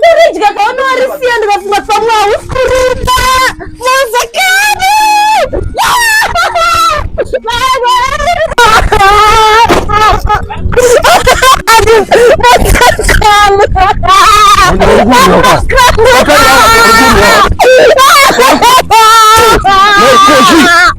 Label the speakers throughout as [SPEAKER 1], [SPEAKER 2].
[SPEAKER 1] kuridya kaunowarisiya ndikafunga pamwe hausi kurumba mozakani Hey,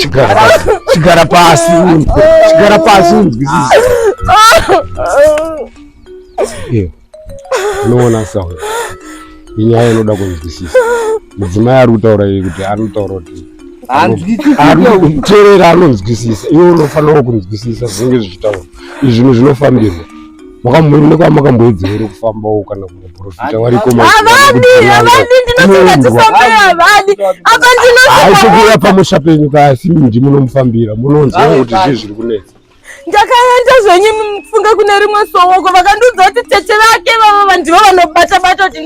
[SPEAKER 1] chigara pasi chigara pasi unzwe chigara pasi unzwisise iyo unoona sawa inyaya inoda kunzwisisa mudzimai ari kutaura iyi kuti anotaura kuti teerera anonzwisisa iwe unofanirawo kunzwisisa zvinenge zvichitaura izvinhu zvinofambirwa mwakamboenda kwamakamboedza here kufambawo kana kumaprofita wariko avadi avadi ndinofunga tifambe avadi apa ndinoaitokuuya pamusha penyu kasi ndi munomufambira munonzwa kuti zvii zviri kunetsa ndakaenda zvenyu mufunga kune rimwe sowoko vakandiudza kuti tete vake vavo vandivo vanobata bata kuti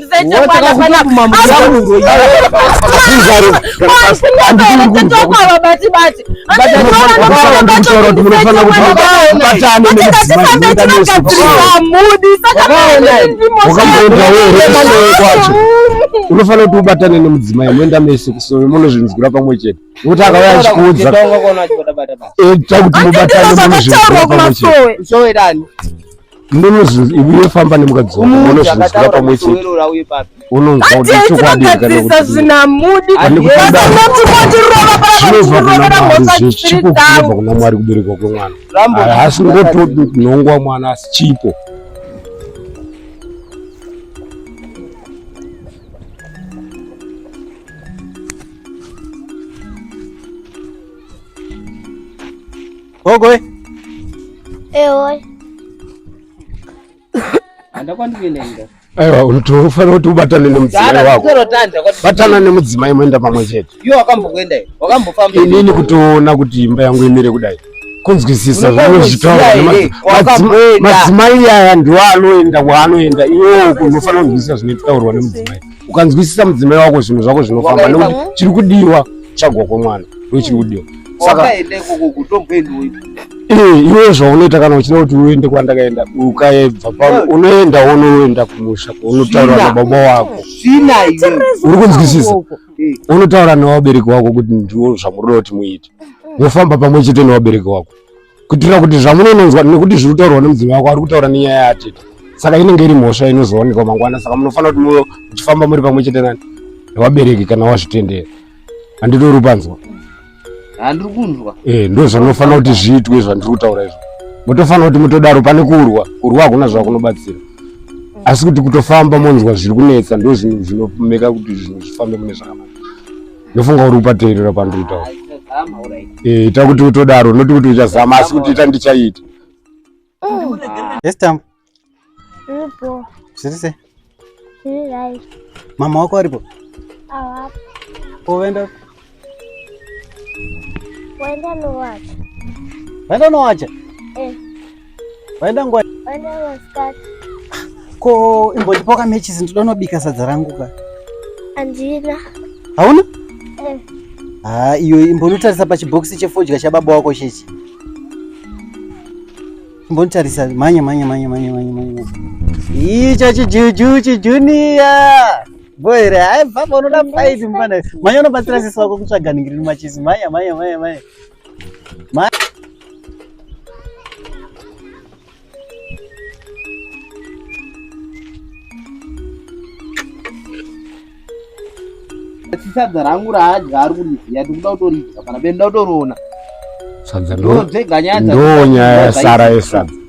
[SPEAKER 1] unofanira kuti ubatane nemudzimai moenda mese kusove munozvinzwira pamwe chete nokuti akauya achikuudza eh, kuti mubatane munozvinzwira pamwe chete ndinozofamba nemukadzi waunoziva pamwe chete unonzwa kuti chokwadi zvichikokubva kuna mwari kuberekwa kwemwana haasi ngotonhongwa mwana asi chipo Gogo we. Ewe. Anda kwandikuenda inda. Aiwa unotofanira kuti ubatane nemudzimai wako. Batana nemudzimai moenda pamwe chete. Iwe wakambokuenda iwe. Wakambofamba. Inini kutoona kuti imba yangu imire kudai. Kunzwisisa zvimwe zvitaura madzimai aya ndiwo anoenda kwaanoenda iwewo unofanira kunzwisisa zvine zvinotaurwa nemudzimai. ukanzwisisa mudzimai wako zvinhu zvako zvinofamba nekuti chiri kudiwa kutsvagwa kwemwana ndo chiri kudiwa saka eh, iwe zvaunoita kana uchida kuti uende kwandakaenda ukaebva pano unoenda wonoenda kumusha unotaura nababa wako uri kunzwisisa unotaura nevabereki wako kuti ndiwo zvamuroda kuti muite mofamba pamwe chete nevabereki wako kuitira kuti zvamunononzwa nekuti zviri kutaurwa nemudzimai wako ari kutaura nenyaya yatete saka inenge iri mhosva inozoonekwa mangwana saka munofanira kuti muchifamba muri pamwe chete nani nevabereki kana wazvitendera handitori panzwa handiri kunzwa e ndo zvanofanira kuti zviitwe zvandiri kutaura izvo motofanira kuti mutodaro pane kurwa kurwa hakuna zvakunobatsira asi kuti kutofamba monzwa zviri kunetsa ndo zvinhu zvinomeka kuti zvinhu zvifambe kune zvakanaka ndofunga uri kupateerera pandoita ah, eh, ita kuti utodaro noti kuti uchazama asi kuti ita ndichaita estam zvirise mama wako aripo oenda waenda nowacha waenda nowacha eh. Waenda ngwa. Waenda masikati. Ko imbotipa ka matches ndoda nobika sadza rangu ka. Andina. Hauna? Eh. Ah, iyo imbonotarisa pa chibokisi chefodya cha baba wako chechi. Imbonotarisa manya manya manya manya manya manya. Icho chijuju chijunior. Boere, hai baba unoda fight mfana. Manya unobatsira sisi wako kutsvaga ningiri machisi. Manya manya manya manya. sadza rangu raadya ari kuriziya ndikuda kutoridya pana benda kutoroona sadza ndonyaya yasara yesadza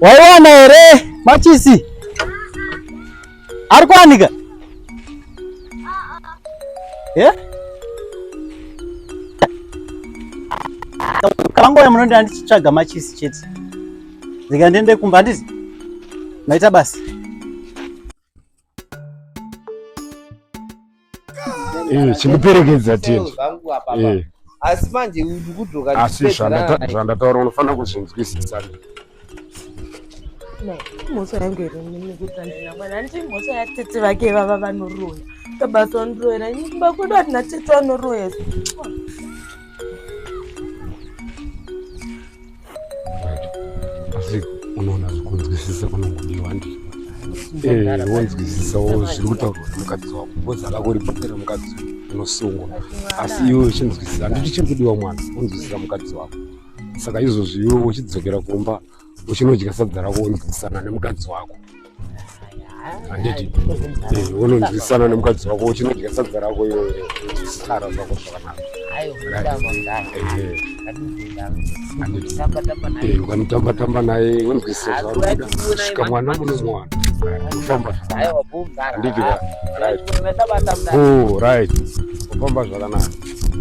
[SPEAKER 1] waiwana here machisi ari kuwanika eh? kangouya munondi andichitsvaga machisi chete ndikandiende kumba handizi maita basi Eh, chindiperekedza tini eh. asi manje ndikudzoka asi zvandataura unofanira kuzvinzwisisa mhosva yangu here nekutandira mwana handiti mhosva yatete vake vava vanoroya kabasa vanoroyera nyumba kwedu hatina tete vanoroya asi unoona zvikunzwisisa kunongodiwa handii Eh, wonzwisisa wo zviri kutaurwa nemukadzi wako bhozi alako ribhokera mukadzi unosungwa asi iwe uchinzwisisa handiti chiri kudiwa mwana wonzwisisa mukadzi wako saka izvozvi iwe uchidzokera kumba uchinodya sadza rako wonzwisisana nemukadzi wako handiti eh, unonzwisana nemukadzi wako uchinodya sadza rako iwe sara zvako zvakanaka ukanotamba tamba naye unzwisisa zvaruda svika mwana muno mwana kufamba handiti right kufamba zvakanaka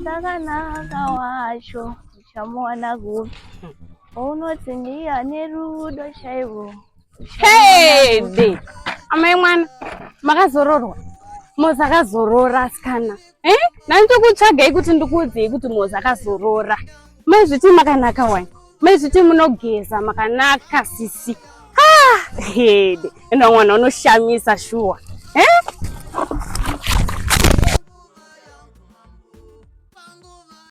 [SPEAKER 1] zvakanaka wacho chamuwana kupi ounoti ndiye ane rudo chaivo hede amai mwana makazororwa mozi akazorora asikana e eh? nani tokutsvagai kuti ndikuudzei kuti mozi akazorora mai zviti makanaka wani mai zviti munogeza makanaka sisi ah, hede enda mwana unoshamisa shuwa e eh?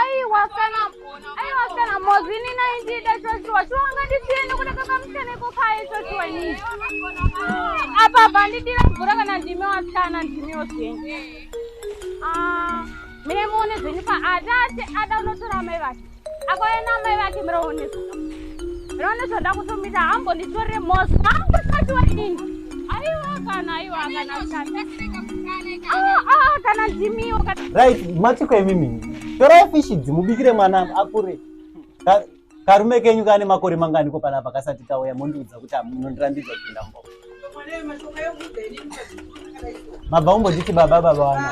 [SPEAKER 1] aiwa kana aiwa kana mozi ini naindida choshuwa shuwa ungandisiende kuda kakamuseneko kaye choshuwa ini apa bandidira mvura kana ndimi wasana ndimi yoseni ah, mine muone zvenyu paati ati ada unotora mai vake akoyena amai vake miraonesa miraonesa ndakutumira hambo nditore mosi vangosatiwa ini aiwa kana aiwa kana ndimiwo ah, ah, ah, right matiko imimi torai fishi dzimubikire mwana akure karume kenyu kane makore mangani ko panapa kasati kauya mondiudza kuti munondirambidza kupinda mbo mabva umboditi baba baba wana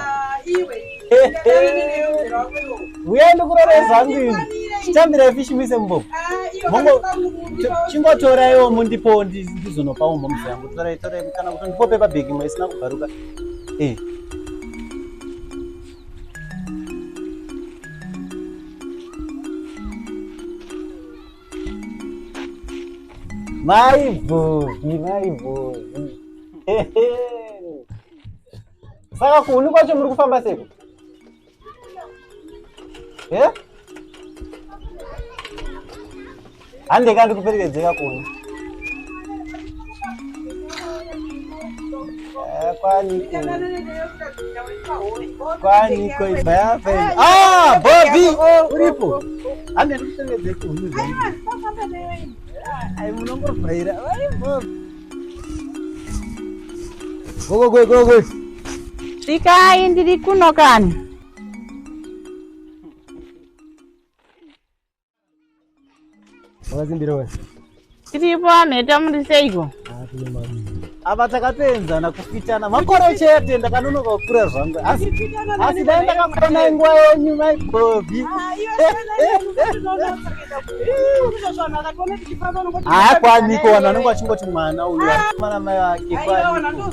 [SPEAKER 1] uya ndikuroreza ndini chitambira fishi muise mumbovu mongo chingotoraiwo mundipo ndizonopa umbo mzi yangu torai torai kana kuti ndipo pepa bhegi imwe isina kubvaruka e Maibhozi, maibhozi. Saka kuhuni kwacho muri kufamba seko? Eh? Hande kandi kuperekedzeka kuhuni. Kwaniko ibhayafe. Ah, Bobby uripo. Hande ndikusengedze kuhunu zvangu. Ai munongorwaira. Ai Bobby. Gogo gogo gogo. Svikai ndiri kuno kani. Wakazimbira wewe? Tiripo aneta muri seiko? Ava takateenzana kufitana makore chete ndakanonoka kukura zvangu asi asi dai ndakakona nguva yenyu mai Bobby. Haakwaniko vanhu vanenge vachingoti mwana uyu akomana mai vake kwaniko.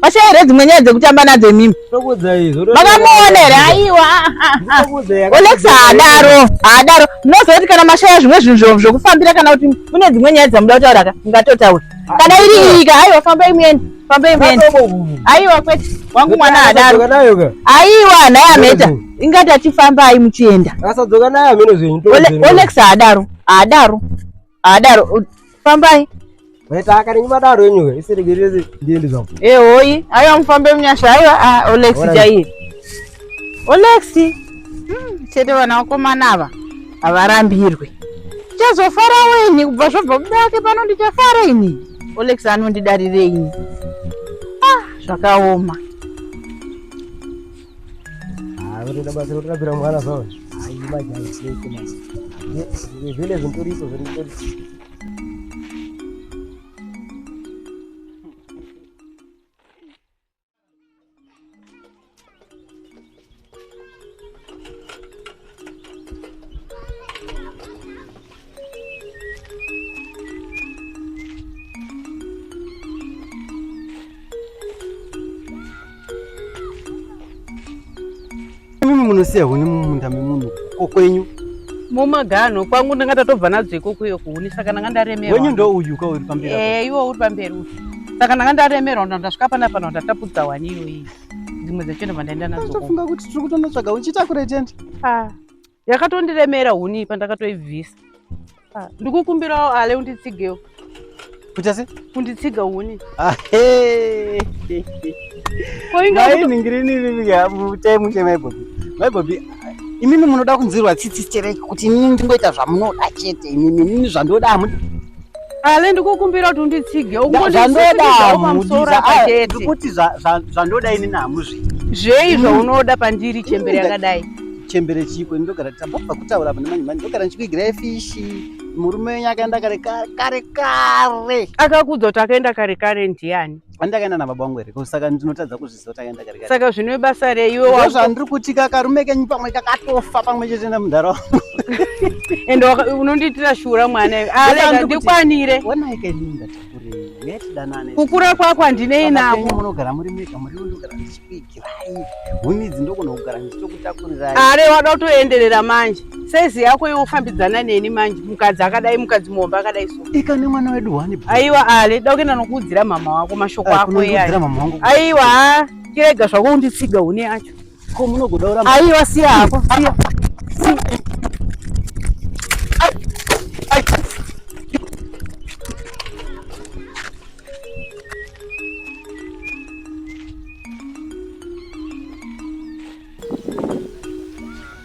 [SPEAKER 1] Pashe here dzimwe nyaya dzekutamba nadzo imimi. Makamuona here aiwa. Olex haadaro haadaro munoziva kuti kana mashaya zvimwe zvinhu zvokufambira kana kuti mune dzimwe nyaya dzamuda kutaura ka ngatotaura kana iri iyi ka aiwa fambai muende fambai muende aiwa kwete wangu mwana haadaro aiwa nhai ameta ingati achifambai muchienda. Olex haadaro haadaro. adaro fambai Mwaitaka renyu madaro yenyu iseregereze ndiende zvangu. Eh hoyi, ayo mufambe munyasha ayo ah Olex chaiye. Olex. Hmm, chete vana vakomana ava havarambirwe. Chazofara weni kubva zvobva kuda wake pano ndichafara ini. Olex anondidarirei ini. Ah, zvakaoma. vanotoda basa rotorapira mwana zvawo zvine zvintoripo zviritori Mimi munosiya huni mumunda memunhu ko kwenyu mumaganho kwangu ndanga tatobva nadzo ikoko iyo kuhuni saka ndanga ndaremerwa wenyu ndo uyu ka uri pamberi eh iwo uri pamberi uyu saka ndanga ndaremerwa ndandasvika panapa ndatapudza wani iyoyi dzimwe dzacho ndobva ndaenda nadzo ndofunga kuti tiri kutonotsvaga huni chitakure tiende ah, yakatondiremera huni ipa ndakatoibvisa ah, ndikukumbirawo ale unditsigewo kuita se unditsiga huni ah, koingainingiriniiamutemukemaibhobi maibobi imimi munoda kunzirwa tsitsi stereki kuti inini ndingoita zvamunoda chete imimi inini zvandoda hamudi Ale ndikukumbira kuti unditsige ukundisaamudisaakuti zvandoda ini namuzvi zvei zvaunoda mm. pandiri chembere yakadai chembere chiko ndogara tambobva kutaura pane manje manje ndogara ndichikuigirai fishi murume wenyu akaenda kare kare kare akakuudza kuti akaenda kare kare ndiani andakaenda nababa wangu here saka ndinotadza kuzvi saka zvino ibasa reiwe wazvandiri kuti kakarume kenyu pamwe kakatofa pamwe chete nemudhara wangu ende unondiitira shura mwana ah, ndikwanire kukura kwako handinei nako munogara muri mega muri unogara ndichikuigirai huni idzi ndokona kugara ndichitokutakuriraiare wada kutoenderera manje saizi yako iwe ufambidzana neni manje mukadzi akadai mukadzi muhombe akadai so ika nemwana wedu wani aiwa ale da kuenda nokuudzira mama wako mashoko eh, ako iyayo aiwa chirega zvako unditsiga une yacho ko munogoda kuramba aiwa siya hako siya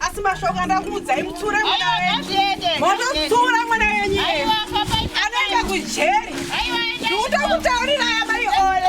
[SPEAKER 1] asi mashoko andakuudzai mutsura mwana wenyu mototsura mwana wenyu anoenda kujeri ndiuta kutaurira amai ole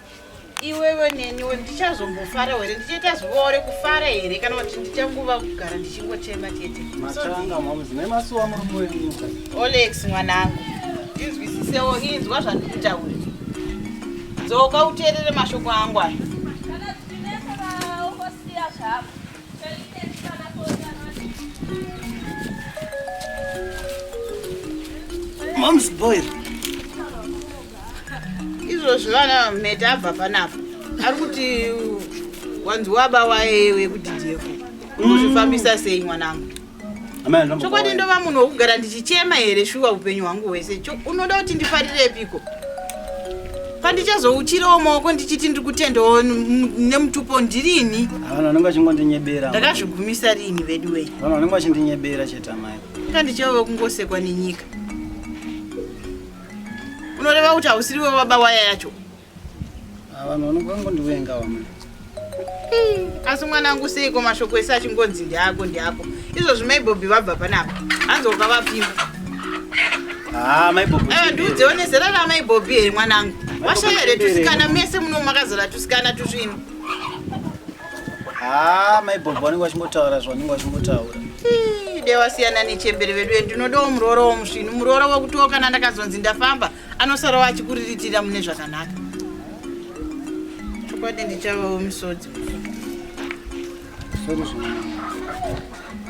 [SPEAKER 1] iwewe neniwo ndichazombofara here ndichaita zuva rekufara here kana kuti ndichanguva kugara ndichingochema chete olex mwanangu ndinzwisisewo inzwa zvandikutaura dzoka uteerere mashoko angu ayo zvako Mom's boy. Izvozvo vana mhete abva panapa. Ari kuti wanzi waba waye wekuti ndiye. Unozvifambisa sei mwanangu? chokwadi ndova munhu wokugara ndichichema here shuwa upenyu hwangu hwese unoda kuti ndifarirepiko pandichazouchirawo maoko ndichiti ndiri kutendawo nemutupo ndirini vanhu vanenge vachingondinyebera ndakazvigumisa riini vedu wei vanhu vanenge vachindinyebera chete amai ka ndichave kungosekwa nenyika unoreva kuti hausiriwe baba waya yacho Vanhu vanokangondiwenga vamwe. Asi mwana wangu seiko mashoko ese achingonzi ndiako ndiako. Izvo zvimai Bobby vabva panapa. Hanzi wakavapima. Ah, mai Bobby. Eh, ndudze one zera ra mai Bobby here mwana wangu. Washaya here tusikana mese muno makazara tusikana tusvino. Ah, mai Bobby vanenge vachingotaura zvavanenge vachingotaura. Dewasiyana nechembere vedu ndinodawo muroora womusvinu muroora wekuti kana ndakazonzi ndafamba anosarawo achikuriritira mune zvakanaka chokwadi ndichavawo misodzi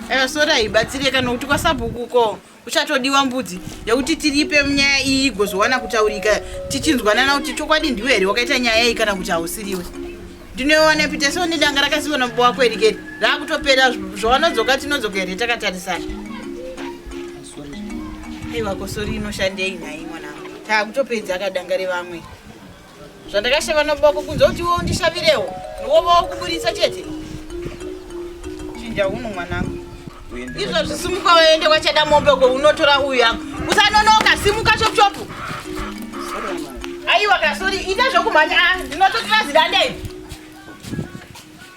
[SPEAKER 1] ewa sori haibatsireka nokuti kwasabhuku ko uchatodiwa mbudzi yekuti tiripe nyaya iyi igozowana kutaurika tichinzwanana kuti chokwadi ndiwe here wakaita nyaya iyi kana kuti hausiriwe ndinoiwana pita seo nedanga rakasiwa namubo wako erikeri raakutopera zvawanodzoka tinodzoka here takatarisana aiwa kosori inoshandei nhai mwanangu taakutopedza akadangare vamwe zvandakashava noboko kunze kuti iwo ndishavirewo niwovawo kuburitsa chete chinja uno mwanangu izvo zvisimuka waende kwachada mombe ko unotora uyu yangu usanonoka simuka chopuchopu aiwa kasori ita zvokumhanya ah, ndinototora zidandei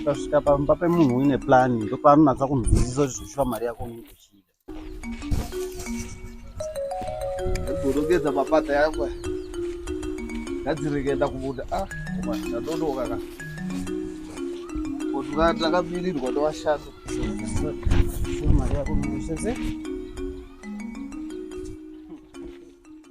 [SPEAKER 1] ukasvika pamba pemunhu uine plan ndopaanonatsa kunzwisisa kuti zvinoshuva mari yako unenge uchida gorogedza mapata yako ngadzirekenda kubuda ah, ndadodoka ka kotuka ndakamirirwa ndovashatu mari yako unenge uchida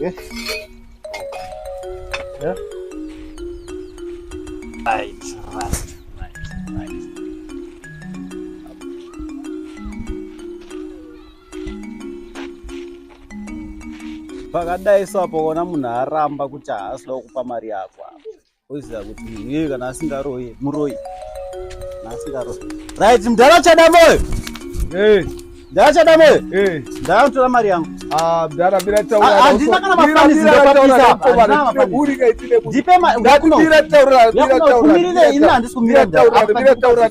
[SPEAKER 1] Yes. Yeah. Right, right, right, right. pakadai so apo ona munhu aramba kuti haasi da kukupa mari yako oziva kuti iye kana asingaroye muroyi kana asingaroye right mdhara uchada moyo hey. mdhara uchada moyo hey. mdhara unotora mari yangu ah, mdhara bira taurahandina kana mafanizi ndopapisa ndipe mari yakuno yakuno kumirire ini handisi kumira mdhara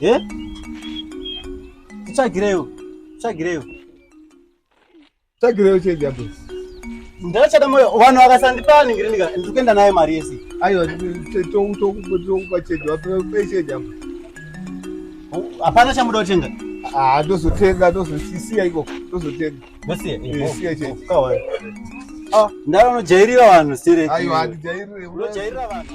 [SPEAKER 1] Eh? Tsvagireyo. Tsvagireyo. Tsvagireyo chega boss. Ndachada moyo vanhu vakasandipa ningiri nika ndikuenda naye mari yese. Aiwa tokupa chega vape chega. Hapana chamuda kutenga. Ah, tozotenga tozosiya iko tozotenga. Ndosiya. Eh, siya chega. Kawa. Ah, ndaro unojairira vanhu sireki. Aiwa, ndijairire. Unojairira vanhu.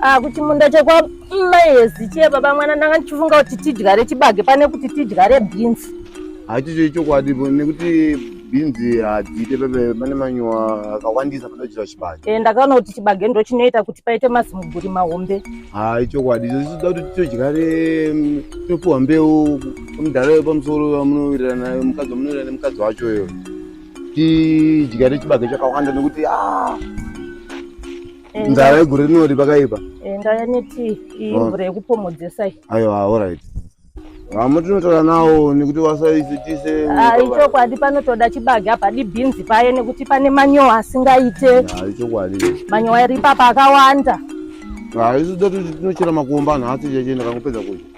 [SPEAKER 1] Ah, kuchimunda chekwa maezi chiye baba mwana ndanga ndichifunga kuti tidyare chibage pane kuti tidyare bhinzi hachicho ichokwadi nekuti bhinzi hadziite pepe pane manyowa akawandisa panochira chibage e, ndakaona kuti chibage ndo chinoita kuti paite mazimuguri mahombe ha ichokwadi icho tichida kuti titodyare mm, topiwa mbeu mudhara wepamusoro vamunowirirana naye mukadzi wamunowirirana nemukadzi wacho uyo tidyare chibage chakawanda nekuti ah, eh, nzara yegore rinori pakaipa eh, ndaya neti imvura oh. yekupomodzesa aiwa orit vamwe tinotaura nawo nekuti vasaisitise ah, ichokwadi panotoda chibage apa dibhinzi paye nekuti pane manyowa asingaite ah, ichokwadi manyowa iri papa akawanda haisi ah, toti tinochera makomba nhasi cheche ndakangopedza kudya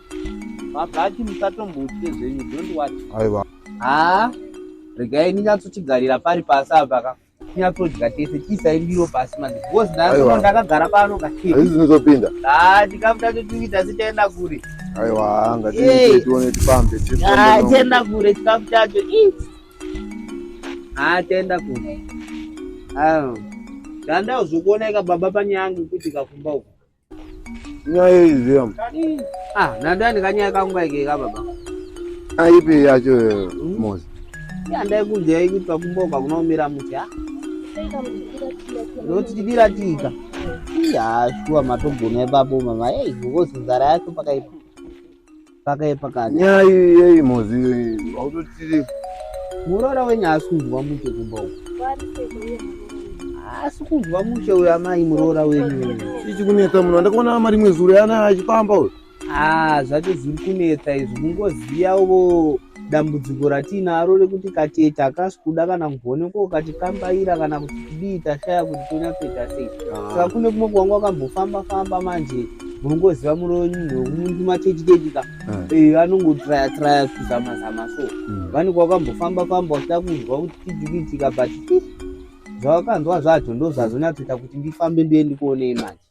[SPEAKER 1] Mabhaki musatombotye zvenyu don't what. Aiwa. Haa ah, regai ndinyatsochigarira pari pasi apa ka tinyatsodya tese tiisai ndiro pasi manje because ndaiwa ndakagara pano ka. Izvi zvinozopinda. Haa ah, tikabuda totuita sitaenda kure. Aiwa ngatiite tione tipambe. Haa ah, tienda kure chikafu chacho. Haa tienda kure. Haa. Ndandauzokuoneka baba panyaya yangu kuti kakumba uko. nyaya iziva ah nandani kanyaya kangu kaikeka baba aipi ah, yacho hmm? mozi yandai kunzi yaikuti pakumboka kunomira muti ha noti tidira tika iya shuwa matogona ipapo mama ei ngozi nzara yacho pakaipa pakaipa kani nyaya yeyi mozi autotiri muroora wenyu haasi kunzwa mushe kumba uku haasi kunzwa mushe uyo amai muroora wenyu chii chikunetsa munhu andakaona ama rimwe zuro yana achipamba uyo aa ah, zvacho zviri kunetsa izvi mungoziya uvo dambudziko ratiinaro rekuti katete hakasi kuda kana kugonekwa ukati kambaira kana kuti kudii tashaya kuti tonyatsoita sei ah. saka kune kumwe kuwanga wakambofamba famba manje munongoziva muroyo munhu wekumuntu matechitechi ka ah. eh, anongotraya traya kuzama zama so hmm. vanenge wakambofamba famba wachida kunzwa kuti tijukitika but zvawakanzwa zvacho ndozvazonyatsoita kuti ndifambe ndiye ndikuonei manje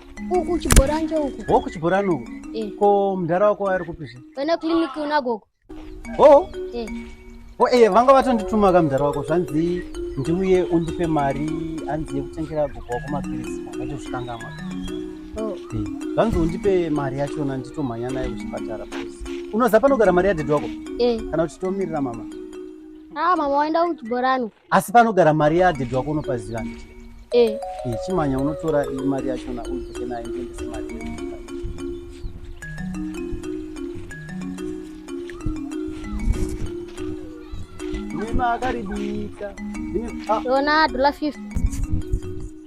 [SPEAKER 1] uku chibhorani chouku ho kuchibhorani uku eh. ko mudhara wako ari kupi zve kana kiliniki unagogo ho ho eh. ee eh, vanga vatondituma ka mudhara wako zvanzi ndiuye undipe mari hanzi yekutengera gogo wako mapirisi vakatozvikangamwa oh. eh, zvanzi undipe mari yachona nditomhanya naye kuchipatara unoziva panogara mari yadhedhi wako kana kuti tomirira mama a ah, mama waenda kuchibhorani asi panogara mari yadhedhi wako unopaziva eh. eh, chimanya unotora mari yachona udzike nayo ndiendese mari akaribika yona dola 50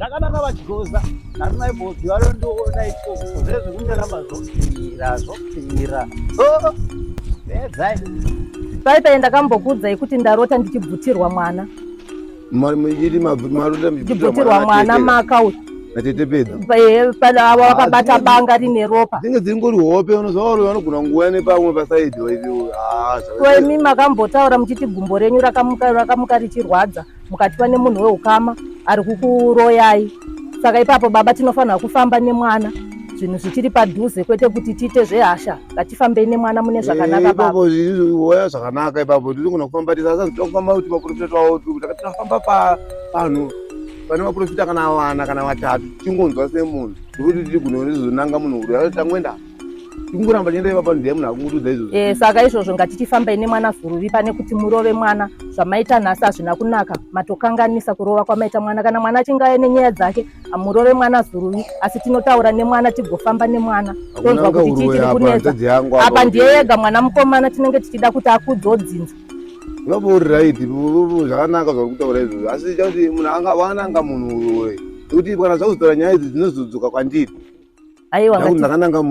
[SPEAKER 1] zvakanaka vachigoza harina ibhozi varo ndoona iko zvezvo kundiramba zvopfira zvopfira edzai pai pai ndakambokuudzai kuti ndarota ndichibvutirwa mwana ndibvutirwa mwana maka uyu ava vakabata banga rine ropa dzinge dziri ngori hope unozvaoro vanogona nguva nepamwe pasaidi waivio imi makambotaura muchiti gumbo renyu rakamuka richirwadza mukati pane munhu weukama ari kukuroyai saka ipapo baba tinofanira kufamba nemwana zvinhu zvichiri padhuze kwete kuti tiite zvehasha ngatifambei nemwana mune zvakanaka eh, baba oya zvakanaka ipapo tinogona kufamba tisasazitofamba kuti maprofita twavo tinofamba pavanhu pane maprofita kana vana kana vatatu tingonzwa semunhu tikuti tiri gunonizonanga munhu uri atangoenda kungoramba chienda ipapa ndiye munhu akungotudza izvozvo eh, saka izvozvo ngatichifambai nemwana zuruvi pane kuti murove mwana zvamaita nhasi hazvina kunaka matokanganisa kurova kwamaita mwana kana mwana achinge aye nenyaya dzake hamurove mwana zuruvi asi tinotaura nemwana tigofamba nemwana tonzwa kuti chii chiri kunetsa apa ndiye yega mwana mukomana tinenge tichida kuti akudzodzinza vapa uri right zvakanaka zvauri kutaura izvozvo asi chakuti munhu anga wananga munhu uwe nekuti kana zvakuzotaura nyaya idzi dzinozodzoka kwandiri aiwa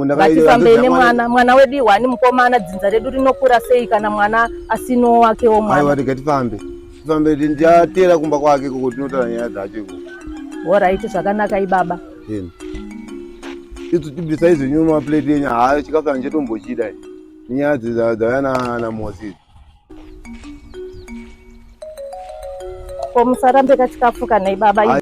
[SPEAKER 1] ngatifambei nemwana mwana wedu ihwani mukomana dzinza redu rinokura sei kana mwana asino wake wo mwana aiwa rega tifambe tifambe ndichateera kumba kwake koko tinotaura nyaya dzacho iko horaiti zvakanaka ibaba isu tibisa izvi nyuma plate yenyu haa chikafu yangu chetombochida nyaya dzauya namosi Ko musarambe kachikafu kana ibaba. Ay